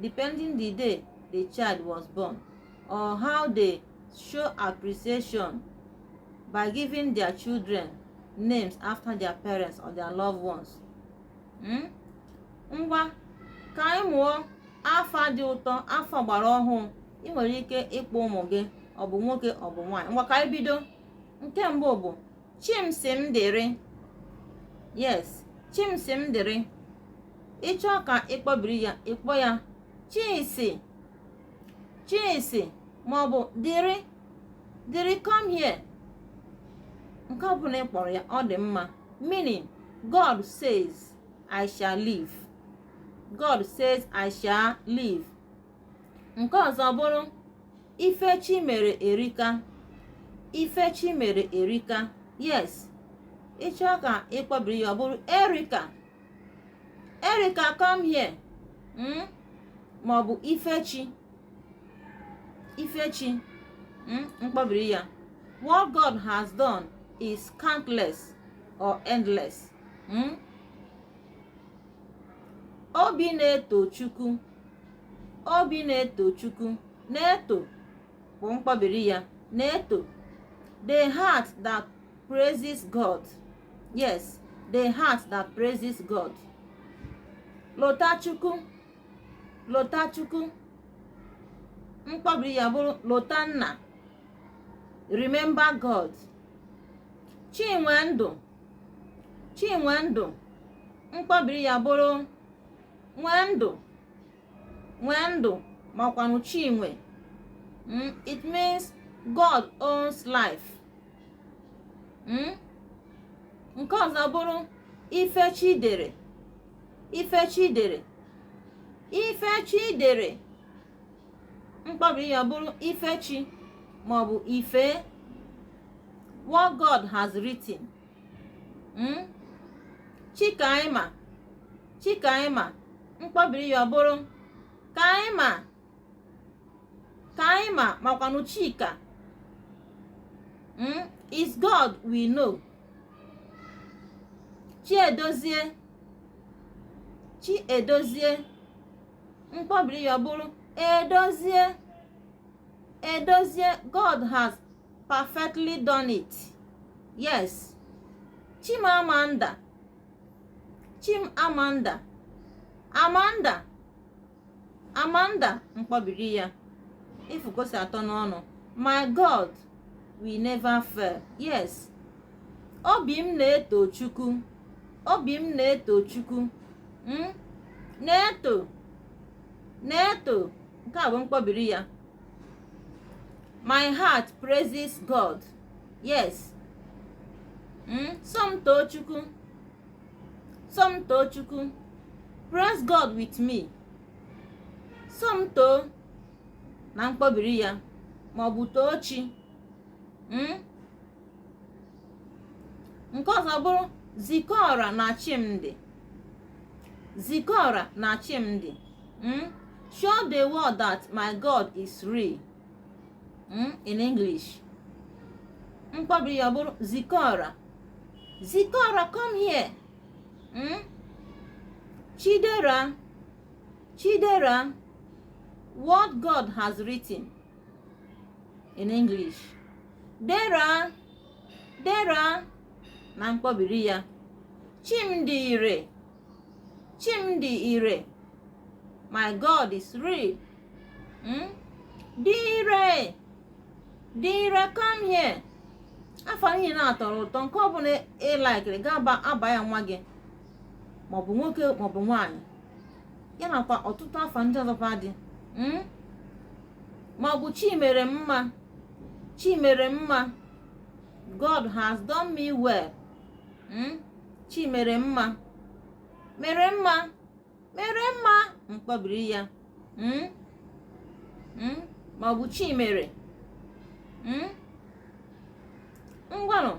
depending the day the child was born or how they show appreciation by giving their children names after their parents or their loved ones. Hmm? ngwa ka anyị mụọ afa dị ụtọ afa gbara ọhụụ ị nwere ike ịkpọ ụmụ gị ọ bụ nwoke ọ bụ nwaanyị ngwa ka anyị bido nke mbụ bụ chimsimdịrị yes chimsimdịrị ị chọọ ka ị kpọbiri ya ị kpọọ ya chisi chisi maọbụ dịrị dịrị come here nke ọ bụla ị kpọrọ ya ọ dị mma meaning god says i shall live god says i shall live nke ọzọ bụrụ ifechi mere erika ifechi mere erika yes ị chọọ ka ị kpọbiri ya ọ bụrụ erika erika come here hmm? ma ọ bụ ifechi ifechi hmm? mkpọbiri ya what god has done is countless or endless hmm? obi na-eto chukwu obi na-eto chukwu na-eto bụ mkpọbiri ya na-eto the heart that praises god yes the heart that praises god lotachukwu lotachukwu mkpọbiri ya bụrụ lotanna remember god chinwendụ chinwendụ mkpọbiri ya bụrụ nwendụ nwendụ makwanụ chinwe hmm? it means god owns life hmm? nke ọzọ bụrụ ifechidere ifechidere ifechidere mkpọbi ya bụrụ ifechi maọbụ ife what god has written hmm? chikaima chikaima mkpọbiri ya ọ bụrụ kaima kaima makwanụ chika hmm? is god we know chiedozie chiedozie mkpọbiri ya ọ bụrụ edozie edozie god has perfectly done it yes chimamanda chimamanda amanda amanda mkpọbiri ya ị fụ ka o si atọ n'ọnụ my god will never fail yes obi m na-eto chukwu obi m na-eto chukwu hmm? na-eto na-eto nke a bụ mkpọbiri ya my heart praises god yes mm? somtoo chukwu somtoo chukwu praise god with me somtoo na mkpọbiri ya maọbụ toochi hmm? nke ọzọ bụrụ zikọra na chimdị zikọra na chimdị mm? show the world that my god is real mm? in english mkpọbiri ya bụrụ zikora zikora come here mm? chidera chidera what god has written in english dera dera na mkpọbiri ya chimdị ire chimdi ire my god is real hmm? dị ire dị ire come here afa niile na-atọrọ ụtọ nke ọ bụla ị laikiri ị ga-aba aba ya nwa gị maọbụ nwoke maọbụ nwaanyị ya nakwa ọtụtụ afa ndị ọzọkwa dị hmm? maọbụ chimere mma chimere mma god has done me well hmm? chi mere mma mere mma mere mma mkpọbiri ya hmm? Hmm? ma ọ bụ chi mere ngwanụ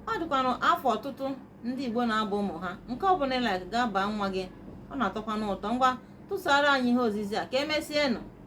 ọ dịkwanụ afa ọtụtụ ndị Igbo na-aba ụmụ ha nke ọ bụla ị like ga-aba nwa gị ọ na-atọkwanụ ụtọ ngwa tụsara anyị ihe ozizi a ka emesienụ